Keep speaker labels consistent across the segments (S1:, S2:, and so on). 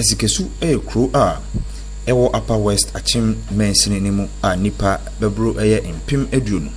S1: Asikesu yɛ kuro a ɛwɔ Upper West Akyem mansini no mu a nnipa bɛboro bɛyɛ mpem aduonu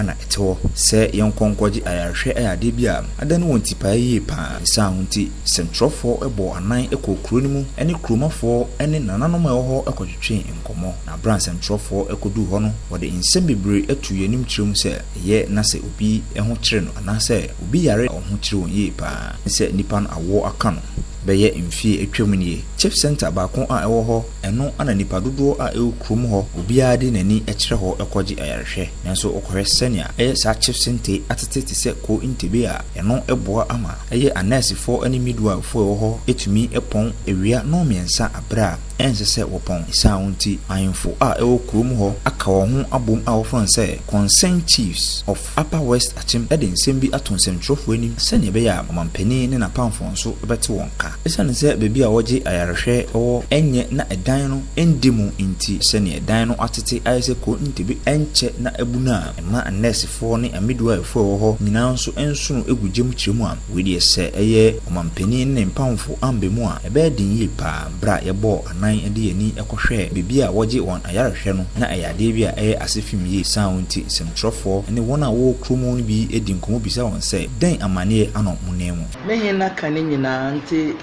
S1: na ɛte hɔ. Sɛ yɛnkɔ nkɔgye ayarehwɛ yɛ adeɛ bi a, adane wɔn tipaeɛ yie pa ara. Ne saa ho nti, sɛntwerɛfoɔ bɔɔ anan kɔɔ kuro no mu ne kuromafoɔ ne nananom a ɛwɔ hɔ kɔtwetwee nkɔmmɔ. Na berɛ a sɛntwerɛfoɔ kɔduu hɔ no, wɔde nsɛm bebree tuu yɛn anim kyerɛɛ mu sɛ ɛyɛ na sɛ obi ho kyere no anaasɛ obi yare a wɔn ho kyere wɔn yie pa ara ne sɛ nnipa no awoɔ aka no. Bɛyɛ mfie atwam nie, Chip Centre baako a ɛwɔ hɔ, ɛno na nnipa dodoɔ a ɛwɔ kurom hɔ, obiara de n'ani kyerɛ hɔ kɔgye ayarehwɛ. Nanso wokɔhwɛ sɛnea ɛyɛ saa Chip Centre atete te sɛ Ko Ntebe a, ɛno boa ama ɛyɛ anɛɛsefoɔ ne midwivefoɔ a ɛwɔ hɔ tumi pɔn awia nnɔnmiɛnsa berɛ a ɛnsɛ sɛ wɔpɔn. Esiane wo nti, ahemfo a ɛwɔ kurom hɔ aka wɔn ho abom a wɔfrɛ wɔn sɛ Concerned Chiefs of Upper West Akyem de nsɛm bi ato nsɛntwerɛfoɔ anim sɛdeɛ ɛbɛyɛ a ɔmampanin ne n'apamfoɔ nso bɛte wɔn nka. Ɛsiane sɛ baabi a wɔgye ayarehwɛ wɔ nyɛ na ɛdan no nda mu nti, sɛdeɛ ɛdan no atete ayɛ sɛ kuro ntebe nkyɛ na abunu a ɛma anɛɛsefoɔ ne amidwaefoɔ a ɛwɔ hɔ nyinaa nso nsono gu gya mu kyerɛ mu a, wei deɛ sɛ ɛyɛ ɔmampanin ne ne mpamfo amba mu a, ɛbɛyɛ den yie pa ara. Bere a yɛbɔɔ anan de yɛn ani kɔhwɛɛ baabi a wɔgye wɔn ayarehwɛ no, na ɛyɛ adeɛ bi a ɛyɛ ase fem yie. Esiane wo nti, nsɛmtwerɛfoɔ ne wɔn a wɔwɔ kurom hɔ no bi di nkɔmmɔ bisa wɔn sɛ, Dɛn amanneɛ anɔ mo nan mu? Me he na ka ne
S2: nyinaa nti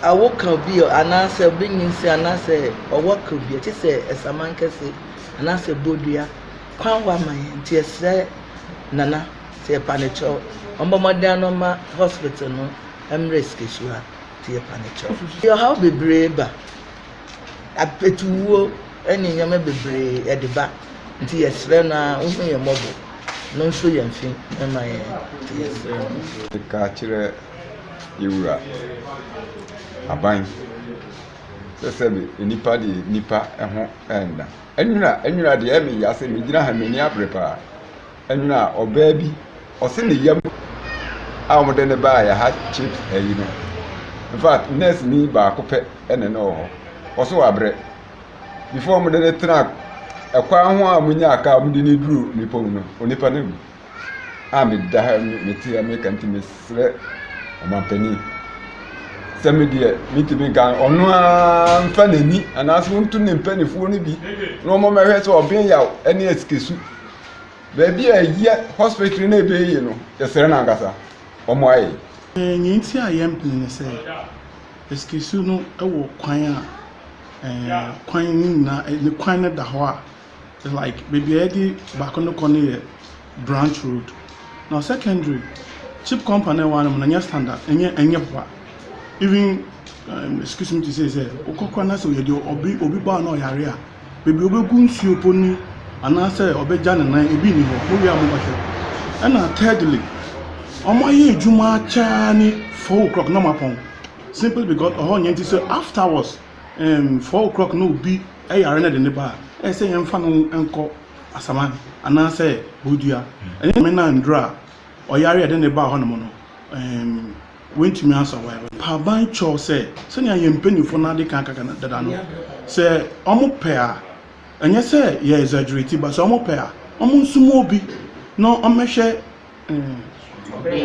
S2: a woka obi ɔ anaasɛ obi nyinsɛn anaasɛ ɔwɔ ka obi ɛte sɛ ɛsaman kɛse anaasɛ bodua kwan hɔ ama yɛn nti yɛsrɛ Nana sɛ yɛpanekyɛw ɔmmɔ mmɔden ano mma hospital no mmrɛ sikasua. tuo ka no kyɛw. Ɛde ɔhaw bebree ba. Apetuwuo ne nneɛma bebree ɛde ba. Nti yɛsrɛ no ara ɔhu yɛn mmɔbɔ na ɔnso yɛn fi mma yɛn. Nti yɛsrɛ no. Ka kyerɛ
S3: yɛn Wura Aban sɛ sɛbe nnipa deɛ nnipa ho nna. Nwura nwura deɛ ɛyɛ me ya sɛ megyina ha m'ani abere paa. Ɛna ɔbaa bi ɔse ne yam a wɔde ne baeɛ ha chips ayi no infact nurse ni baako pɛ ɛna ne wɔ hɔ ɔse wabrɛ before wɔde ne tena ɛkwan ho a wɔnyaa kaa wɔde ne duru nipa mu no onipa no awu a meda ha mete ha meka nti mesrɛ ɔmampanin sɛ me deɛ mentumi nka ɔno ara mfa n'ani anaasɛ wɔntu ne mpanimfoɔ no bi na wɔmɛhwɛ sɛ ɔbɛn yaw ne asikesu Baabi a ɛyɛ hospital na ɛbɛ ye no yɛsrɛ no ankasa ɔmo ayɛ. Nea nti a
S4: yɛn pene ne sɛ eskisu no wɔ kwan a ɛɛ kwan no nyinaa ne kwan no da hɔ a like baabi a yɛde baako no kɔ no yɛ branch road na secondary chip compa no a ɛwɔ ha no mo no ɛnyɛ standard ɛnyɛ ɛnyɛ boa even ɛɛ eskisu me te sɛ sɛ wokɔ kora na sɛ yɛde obi obi baa na ɔyare a. baabi a ɔbɛgu nsuo mpo nni anaasɛ ɔbɛgya ne nan, ebi nni hɔ. Mowie a monkɔhwɛ. Ɛna thirdly, wɔayɛ adwuma akyɛ ara ne four o'clock na wɔapɔn simply because ɛhɔ nyɛ nti sɛ afterwards um, four o'clock na obi yare na ɛde ne ba a, ɛyɛ sɛ yɛmfa no nkɔ Asaman anaasɛ Bodua. Ɛnyɛ Nyame na anduru a ɔyare a ɛde ne ba hɔnom no um, Wontumi ansa wɔn yare no. Haban kyɛw sɛ, sɛnea yɛn mpanyimfo no ade kan aka dada no, sɛ wɔpɛ a, ɛnyɛ sɛ yɛ exaggerate but sɛ wɔpɛ a, wɔnsoma obi na ɔmmɛhwɛ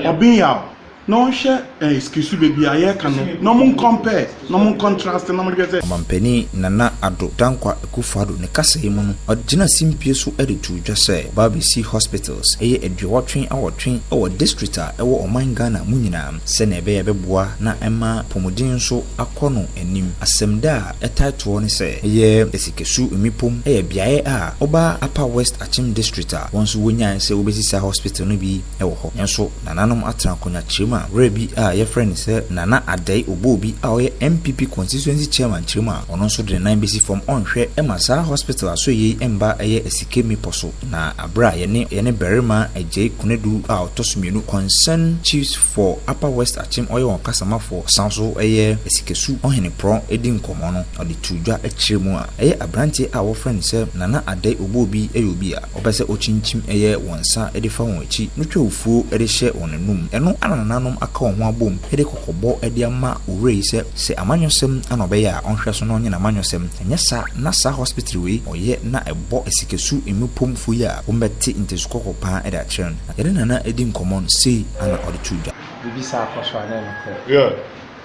S4: ɔbenyaw na ɔnhwɛ sikisudɛ bi a yɛreka no na wɔncompare. Na ɔmo nkɔntrase na ɔmo hwɛ sɛ. Ɔmanpanin Nana
S1: Addo Dankwa Akufo-Addo ne kasa yi mu no, ɔde gyinaa simpie so de too dwa sɛ ɔba abesi hospitals bɛyɛ aduɔwɔtwe awɔtwe wɔ district a ɛwɔ ɔman Ghana mu nyinaa sɛnea ɛbɛyɛ a ɛbɛboa na ɛma apɔmuden nso akɔ no anim. Asɛmda a ɛtae toɔ ne sɛ ɛyɛ Asikesu Mmepom yɛ beaɛ a ɔba Upper West Akyem District a wɔn nso wɔnyae sɛ wɔbesi saa hospital no bi. wɔ hɔ. Nanso nananom atena akonnwakyerɛ mu a berɛ bi a yɛfrɛ no sɛ Nana Addae Oboobi a ɔyɛ NPP Constituency Chairman kyerɛ mu a ɔno nso de ne nan bɛsi fam ɔnhwɛ ma saa hospital asoɛeɛ yi mma ɛyɛ asike mmepɔ so na berɛ a yɛne yɛne barima Agyei Konadu a ɔtɔ so mmienu Concern Chiefs for Upper West Akyem ɔyɛ wɔn ɔkasamafoɔ ɔsan so yɛ Asikesu Ɔhene Prɔn di nkɔmmɔ no ɔde too dwa kyerɛ mu a ɛyɛ aberanteɛ a wɔfrɛ no sɛ Nana Addae Oboobi yɛ obi a Ɔpɛ sɛ okyinkyim ɛyɛ wɔn nsa de fa wɔn akyi, no twa ofuo de hyɛ wɔn anum. Ɛno na nananom aka wɔn ho abom de kɔkɔbɔ de ama Owura yi sɛ, sɛ amanyɔsɛm na ɔbɛyɛ a, ɔnhwɛ so na ɔnyɛ n'amanyɔsɛm. Anyɛ saa na saa hospitre wei ɔyɛ na ɛbɔ asikasu mmepom fo yi a, wɔn bɛte ntesu kɔkɔ paa de akyerɛ no. Na yɛne Nana di nkɔmmɔ no,
S5: sei
S1: ara na ɔde too
S5: dwa.
S6: Biribi
S1: saa kɔ
S5: so a
S1: na ɛyɛ nokorɛ.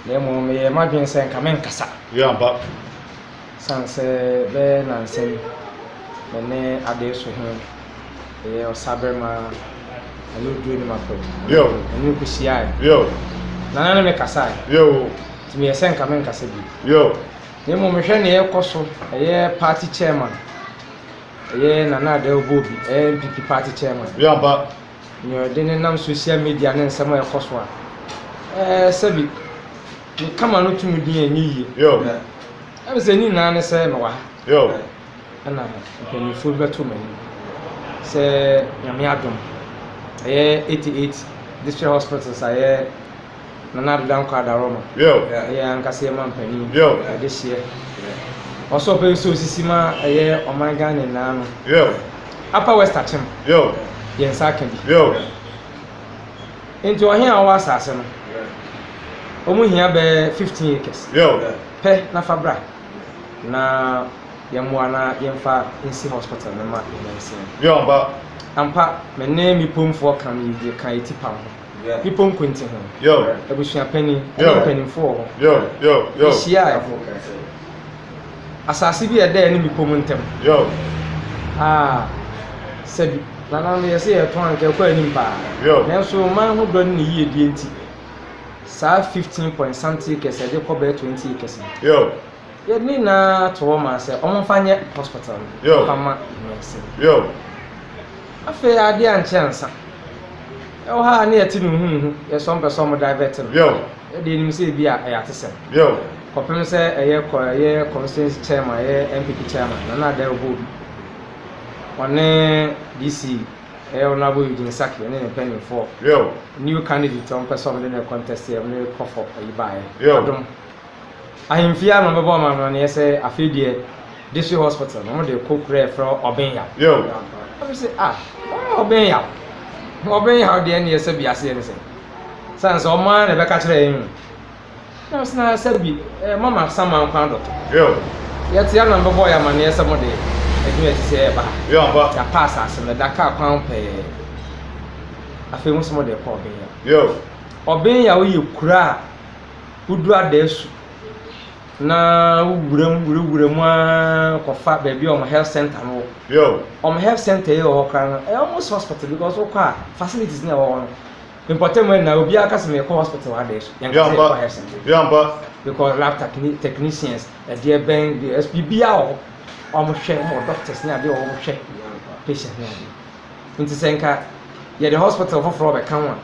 S1: Na
S5: mmom meyɛɛ m'adwene sɛ nka merenkasa.
S6: Ɛsiane
S5: sɛ bɛyɛ nnansa ni me ne Adee so he yɛ ɔsaberema a, na ne oduru anim afa mu. Yɛne no
S6: kohyiae, na na ne me
S5: kasae, nti
S6: meyɛɛ sɛ nka
S5: menkasa bio. Na mmom
S6: mehwɛ
S5: nea ɛrekɔ so, ɛyɛ party chairman, ɛyɛ Nana Adele Boobi, ɛyɛ NPP party chairman,
S6: nea ɔde nenam
S5: social media ne nsɛm a ɛrekɔ so a, eh, sɛbi. Me kama no tum din a ɛnyɛ yie.
S6: Ɛne sɛ ne
S5: nyinaa ne sɛ mewɔ ha
S6: ɛna
S5: mpanimfoɔ bi bɛto m'anim sɛ nyame adom ɛyɛ 88 district hospitals a ɛyɛ Nana Addo Dankwa Adaworoma ɛyɛ ankasa
S6: yɛ ma
S5: mpanin ɛde hyeɛ ɔsɛ ɔpɛ sɛ osisi ma ɛyɛ ɔman Ghana nyinaa no
S6: Upper West
S5: Akyem yɛn
S6: nsa aka
S5: bi. Enti ɔhene a ɔwɔ asase no, wɔn hia bɛyɛ fifteen acres pɛ
S6: na fa bra
S5: na yɛn mmoa na yɛnfa nsi hospital no ma nyansia.
S6: Ampa, me
S5: ne me pomfoɔ kam yi deɛ ka eti pam ho, me ponko nti ho, abusuapanin, ɛne mpanimfoɔ wɔ
S6: hɔ. Yɛhyiae.
S5: Asase bi a ɛda ɛne bepɔ mu ntam. Yow.
S6: Ah,
S5: sɛbi. Nananom yɛ se yɛtɔn anka ɛkɔ anim paa. Yow. Nanso ɔman
S6: ho dɔ
S5: ne ne yiedie nti, saa fifteen point something acres a yɛde kɔ bɛyɛ twenty acres no, Yow.
S6: yɛde ne nyinaa
S5: to hɔ maa sɛ wɔmfa nyɛ hospital no, Yow. wɔmfa mma
S6: nurse
S5: no. Yow. Afei adeɛ ankyɛ ansa. Ɛwɔ ha a na yɛte no huhuhu, yɛ sɛ wɔmpɛ sɛ wɔdivert no. Yow. Yɛdeɛ yɛnim sɛ
S6: ebi
S5: a ɛyɛ atesɛm. Yow. Kɔpem
S6: sɛ
S5: ɛyɛ kɔ ɛyɛ constituency chairman ɛyɛ NPP chairman Nana Adda ɔbɔ obi ɔne DC ɛyɛ honourable Eugene Sackey ɛne ne mpanyinfoɔ new
S6: candidate
S5: ɔmo pɛ sɛ ɔmo de no contest yɛ ɔmo de kɔfɔ ɛyi baeɛ adom ahemfie ano ɔmo bɛbɔ ɔmo amaneɛ sɛ afei deɛ district hospital no ɔmo de kɔ kura ɛfrɛ hɔ Ɔbenyaw ɔmo
S6: se ah
S5: ɔmo Ɔbenyaw Ɔbenyaw deɛ neɛ sɛbi aseɛ ne sɛn sane sɛ ɔmo ara na ɛbɛka kyerɛ yɛn o. Nurse no asa bi, eh, mama Saman kwan do. Yo.
S6: Yɛte ana
S5: mbɛbɔ yɛ amaneɛ sɛ mo de adwuma ɛte sɛ ɛba ha. Yo ampa. Yɛapa
S6: asase no,
S5: da
S6: kaa
S5: kwan pɛɛ. Afei mo sɛ mo de kɔ ɔben ya. Yo.
S6: Ɔben ya
S5: woyɛ kura a wodu adaasu na wowura mu wura wura mu ara kɔfa baabi a wɔn health center no wɔ. Yo. Wɔn health
S6: center yi
S5: wɔ hɔ koraa no ɛyɛ almost hospital because wokɔ a facilities no a ɛwɔ hɔ no Me mpɔtam ɛna obiara ka sɛ mekɔ hospital ha dɛɛ so. Yɛn ka sɛ yɛkɔ health center. Yɛmpa. Mekɔ
S6: lab
S5: technicians, ɛdeɛ bɛn, ɛs biribiara wɔ hɔ. Wɔn hwɛ, wɔn wɔ doctors ne adeɛ wɔ hɔ, wɔn hwɛ patient ne adeɛ. Nti sɛ nka yɛde hospital foforɔ bɛka ho a,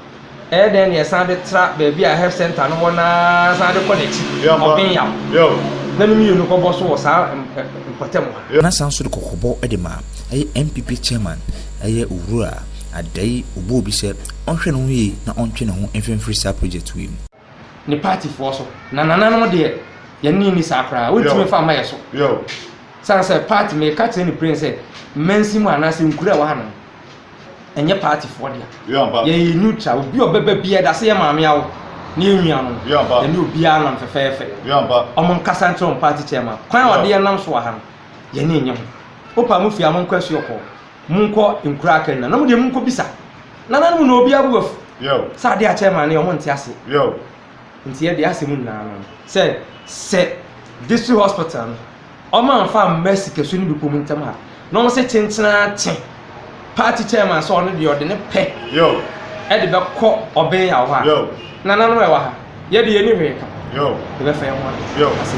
S5: ɛyɛ dɛn na yɛsan de tra baabi a health center no wɔ no ara san de kɔ n'akyi, Ɔbenyaw. Yo.
S6: Na ne mmienu kɔbɔ
S5: so wɔ saa mpɔtam ha. Na san so de
S1: kɔkɔbɔ de ma ɛyɛ NPP chairman, ɛyɛ Owura. Adai ɔbɔ obi sɛ ɔnhwɛ ne ho yie na ɔntwe ne ho mfimfiri saa project wei mu. Ne party
S5: foɔ so na nana nom deɛ yɛne no nni saa koraa wontumi mfa mma yɛ so
S6: sane sɛ
S5: party meka kyerɛ ne pren sɛ mansin mu anaasɛ nkura ɛwɔ ha nom ɛnyɛ party foɔ dea yɛyɛ
S6: neutral obi
S5: ɔbɛba bia ɛdase yɛ maame awo ne yɛ nwia nom yɛne obiaa nam
S6: fɛfɛɛfɛ
S5: ɔmo
S6: nkasa nkyerɛ ɔmo
S5: party chairman kwan a ɔde yɛ nam so wɔ ha no yɛne ɛnyɛ ho wopa mo fie a monkɔ asuo kɔɔ Monkɔ nkuraa kɛ nna na mo deɛ monkɔ bisa nananom no na obiara bo afu sɛ adeɛ a chairman
S6: no yɛ ɔmo
S5: nte aseɛ
S6: nti yɛ deɛ
S5: asɛ mo nyinaa no sɛ sɛ district hospital no ɔmo anfa amma sikasu no bi kɔ ɔmo ntɛm a na ɔmo sɛ kyenkyenaa kye party chairman sɛ ɔno deɛ ɔde ne pɛ ɛde
S6: bɛkɔ
S5: ɔbɛn yaw hɔ a nananom ɛwɔ ha yɛ deɛ yɛ ni hwee
S6: ka
S5: yɛ bɛfa yɛ ho asɛ.